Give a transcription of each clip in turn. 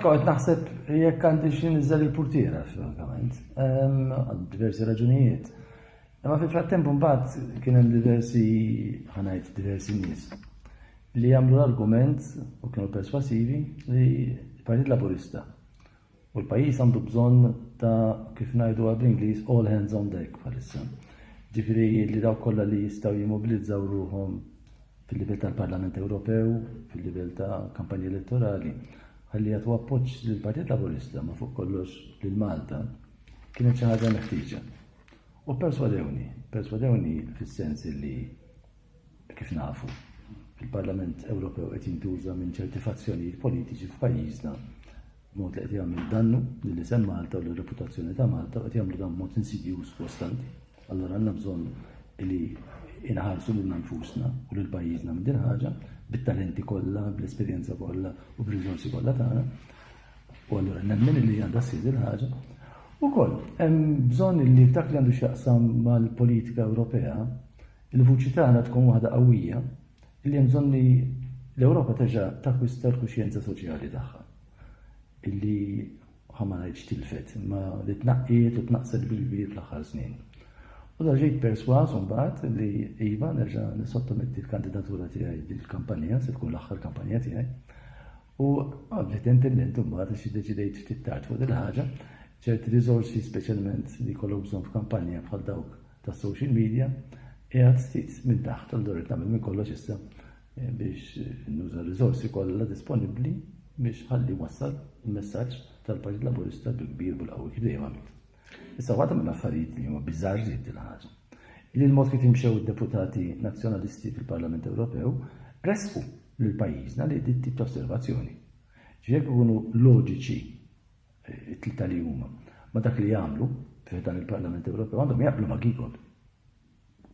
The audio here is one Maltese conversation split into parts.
Kont naħseb jekk għandi xi niżel il-purtiera, frankament, għal diversi raġunijiet. Imma fil-frattemp mbagħad kien hemm diversi ħanajt diversi nies li jagħmlu l-argument u kienu perswasivi li l-Partit Laburista U l-pajjiż għandu bżonn ta' kif ngħidu għal bl-Ingliż all hands on deck bħalissa. Ġifieri li dawk kollha li jistgħu jimmobilizzaw ruhom fil-livell tal-Parlament Ewropew, fil-livell ta' kampanja elettorali, ħalli jagħtu appoġġ lill-Partit Laburista ma fuq kollox lil Malta, kienet xi ħaġa meħtieġa. U perswadewni, perswadewni fis-sens li kif nafu il-Parlament Ewropew qed jintuża minn ċerti fazzjonijiet politiċi f'pajjiżna Mod li qed jagħmel dannu lil isem Malta u lir-reputazzjoni ta' Malta u qed jagħmlu dan b'mod insidjuż kostanti. Allura għandna bżonn li inħarsu lilna nfusna u lil pajjiżna minn din ħaġa bit-talenti kollha, bl-esperjenza kollha u b'riżorsi kollha tagħna. U allura nemmen li għandha ssir din ħaġa. Ukoll hemm bżonn li dak li għandu x'jaqsam mal-politika Ewropea, il-vuċi tagħna tkun waħda qawwija li hemm bżonn li l-Ewropa terġa' takkwista l-kuxjenza soċjali tagħha illi ħamma ngħidx tilfet, imma li tnaqqiet u tnaqqset bil-kbir fl-aħħar snin. U da ġejt perswas mbagħad li iva nerġa' nisottometti l-kandidatura tiegħi dil-kampanja, se tkun l-aħħar kampanja tiegħi. U għabdet intendent mbagħad xi deċidejt ftit tard fuq il-ħaġa, ċerti riżorsi speċjalment li kollok bżonn f'kampanja bħal dawk tas-social media qiegħed stit minn taħt allura qed nagħmel minn kollox issa eh, biex eh, nuża r-riżorsi kollha disponibbli biex ħalli wassal il-messaġġ tal-Partit Laburista bil-kbir bil-qawwi kif dejjem għamilt. Issa waħda minn affarijiet li huma biżgħar żied il-ħaġa. Li l-mod kif imxew id-deputati nazzjonalisti fil-Parlament Ewropew resqu lil pajjiżna li dit tip ta' osservazzjoni. Ġifier ikunu loġiċi it-tlieta li huma, ma dak li jagħmlu fih dan il-Parlament Ewropew għandhom jaqblu ma' Giegold.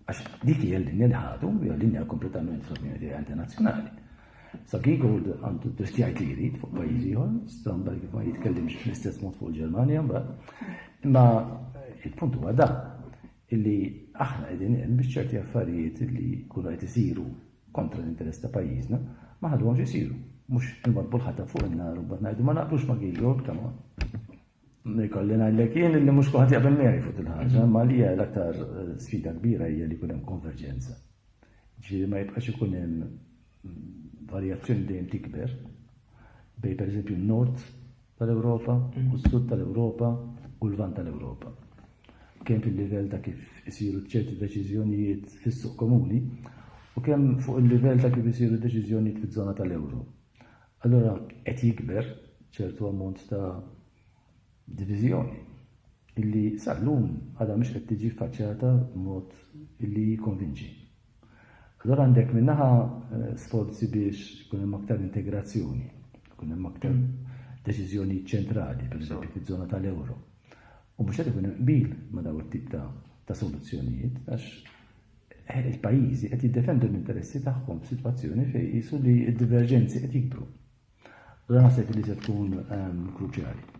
Għax dik hija l-linja li ħadu, hija linja kompletament fl-opinjoni internazzjonali. Sa Giegold għandu dritt jgħid li jrid fuq pajjiżi ieħor, stramba kif ma jitkellimx fl-istess mod fuq il-Ġermanja mbagħad. Imma il-punt huwa da illi aħna qegħdin hemm biex ċerti affarijiet li jkunu qed isiru kontra l-interess ta' pajjiżna, ma ħaduhomx isiru. Mhux inwadbu l-ħatab fuq in-nar u mbagħad ngħidu ma naqblux ma' Gideon, come on. Nikolli ngħidlek jien li mhux kulħadd jaqbel miegħi fuq il-ħaġa, ma li hija l-aktar eh, sfida kbira hija li jkun hemm konverġenza. Ġifieri ma jibqax ikun hemm mm, varjazzjoni dejjem tikber bej pereżempju n-nord tal-Ewropa u s-Sud tal-Ewropa u l-Lvant tal-Ewropa, kemm fil-livell ta' kif isiru ċerti deċiżjonijiet fis-suq komuni u kemm fuq il-livell ta' kif isiru deċiżjonijiet fiż-żona tal-euro. Allura qed jikber ċertu ammont ta' diviżjoni illi sal-lum għadha mhix qed tiġi ffaċċjata b'mod illi jikkonvinċi. Allura għandek minn naħa eh, sforzi biex ikun hemm aktar integrazzjoni, ikun hemm aktar mm. deċiżjoni ċentrali, per eżempju, fiż-żona tal-euro. U mhux qed ikun qbil ma' daw it-tip ta' soluzzjonijiet, għax eh, il-pajjiżi qed jiddefendu l-interessi tagħhom f'sitwazzjoni fejn jisu li d-diverġenzi qed jikbru. Allora naħseb li se tkun ehm, kruċjali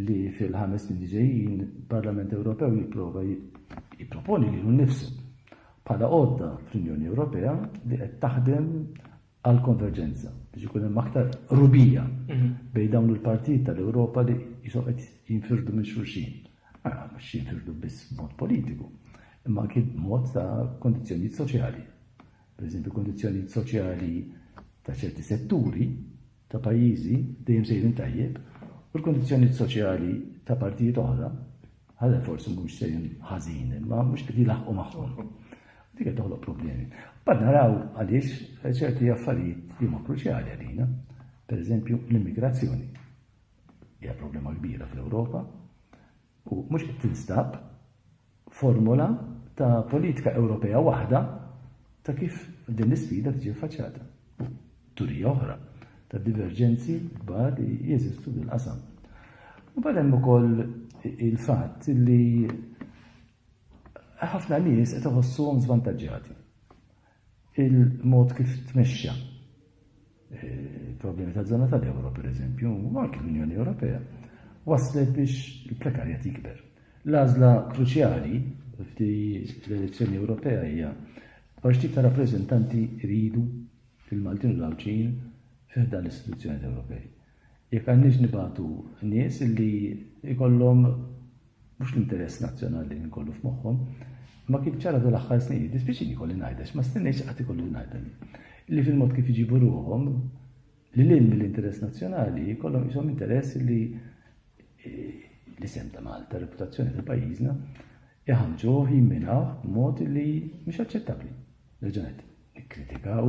li fil-ħames snin ġejjin il-Parlament Ewropew jipprova jipproponi lilu nnifsu bħala għodda fl-Unjoni Ewropea li qed taħdem għal konverġenza biex ikun hemm aktar rubija mhm. bejn dawn il-partit tal-Ewropa li jisom qed jinfirdu minn xulxin. Ara mhux jinfirdu biss mod politiku, imma kien mod ta' kondizzjonijiet soċjali. Pereżempju, kundizzjonijiet soċjali ta' ċerti setturi ta' pajjiżi dejjem sejrin tajjeb u l-kundizzjonijiet soċjali ta' partijiet oħra ħalla forsi mhux sejrin ħażin, imma mhux qed jilaħqu magħhom. Dik qed toħloq problemi. Bad naraw għaliex ċerti affarijiet li huma kruċjali għalina, pereżempju l-immigrazzjoni. Hija problema kbira fl-Ewropa, u mhux qed tinstab formola ta' politika Ewropea waħda ta' kif din l-isfida tiġi ffaċċjata. Turija oħra ta' diverġenzi kbar li jeżistu fil-qasam. U bad hemm ukoll il-fatt li ħafna nies qed iħossuhom żvantaġġjati. Il-mod kif tmexxa eh, problemi ta' żona tal-Ewro, per eżempju, u anke l-Unjoni Ewropea, waslet biex il-prekarjat jikber. L-għażla kruċjali f'di l-elezzjoni Ewropea hija għax tip ta' rappreżentanti jridu fil-Maltin u l-Għawġin fiħda l-istituzzjoni Ewropej. Jekk għandniex nibagħtu nies li jkollhom mhux l-interess nazzjonali li nkollu f'moħħhom, imma kif ġara dawn l-aħħar snin, jiddispjaċini jkolli ngħidha għax ma stennejtx qatt ikolli ngħidha din, li fil-mod kif iġibu ruħhom lil hinn mill-interess nazzjonali jkollhom qishom interess li l-isem ta' Malta, reputazzjoni ta' pajjiżna, iħamġuh jimminaw b'mod li mhux aċċettabbli. Reġanet, nikkritikaw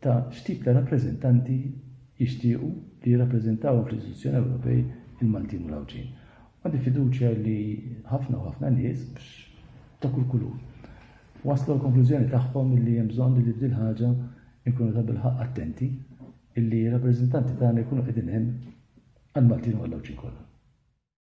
ta' x'tip ta' rappreżentanti jixtiequ li jirrappreżentawhom fl-istituzzjoni Ewropej il-Maltin u l-Għawdxin. Għandi fiduċja li ħafna u ħafna nies, ta' kull kulur, waslu għall-konklużjoni tagħhom li hemm bżonn li f'dil ħaġa nkunu tabilħaqq attenti li r-rappreżentanti tagħna jkunu qegħdin hemm għall-Maltin u għall-Għawdxin kollha.